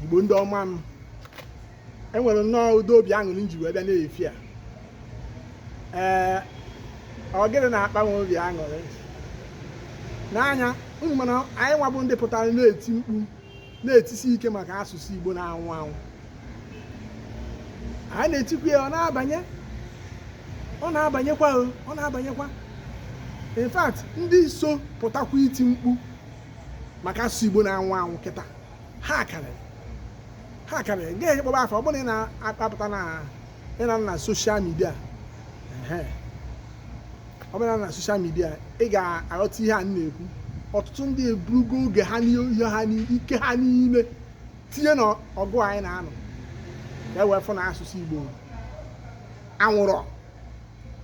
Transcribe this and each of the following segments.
igbo ndị ọma m enwere nnọọ ụdị obi aṅụrị nji wee bịa na-efi a ee ọ gịnị na-akpa m obi aṅụrị n'anya unu ma na anyị nwa bụ ndị pụtara na-eti mkpu na-etisi ike maka asụsụ igbo na-anwụ anwụ anyị na-etikwa ya ọ na-abanye ọ na-abanyekwa ọ na-abanyekwa in fact ndị so pụtakwa iti mkpu maka asụsụ igbo na-anwụ anwụ kịta ha karịrị ha karịrị ga-eji kpọba afa ọ bụrụ na ị na-akpapụta na ị nọ na social media ọ bụrụ na social media ị ga-aghọta ihe anyị na-ekwu ọtụtụ ndị eburugo oge ha n'ihe ha ike ha niile tinye na ọgụ anyị na-anụ ka e wee fụ na asụsụ Igbo anwụrọ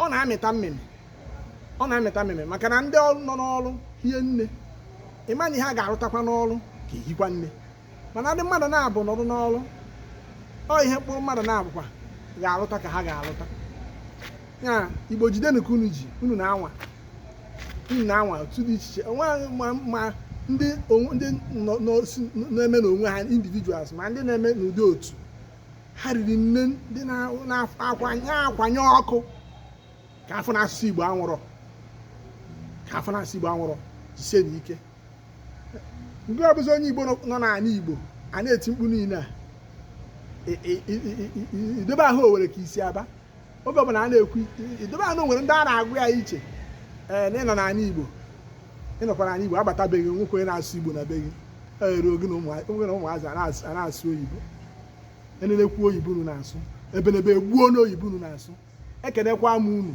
ọ na-amịta mmịmị ọ na-amịta mmịmị maka na ndị ọrụ nọ n'ọrụ hie nne ị ma na ihe a ga-arụtakwa n'ọrụ ga-ehikwa nne mana ndị mmadụ naabọ nọdụ n'ọrụ ọ ihe mkpụrụ mmadụ naabọkwa ga-arụta ka ha ga-arụta ya igbo jidenu ka unu ji unu na-anwa unu na-anwa otu dị iche iche onwe ma ndị ndị na-eme n'onwe ha individuals ma ndị na-eme n'ụdị otu ha riri nne ndị na-akwanye ọkụ ka a fụ na asụsụ igbo anwụrọ ka a fụ na asụsụ igbo anwụrọ jisienu ike ngị bụzi onye igbo nọ n'ani igbo a na-eti mkpu niile a idobe ahụ o nwere ka isi aba oge ọbụla a na-ekwu idobe ahụ nwere ndị a na-agwa i chee na ị nọ n'ani igbo ị nọkwa n'ani igbo a bata be gị nweghị onye na-asụ igbo na be gị ere gị na ụmụazị a na-asụ oyibo e nenekwuo oyibo unu na-asụ ebenebe egbuo n'oyibo unu na-asụ ekenekwa m unu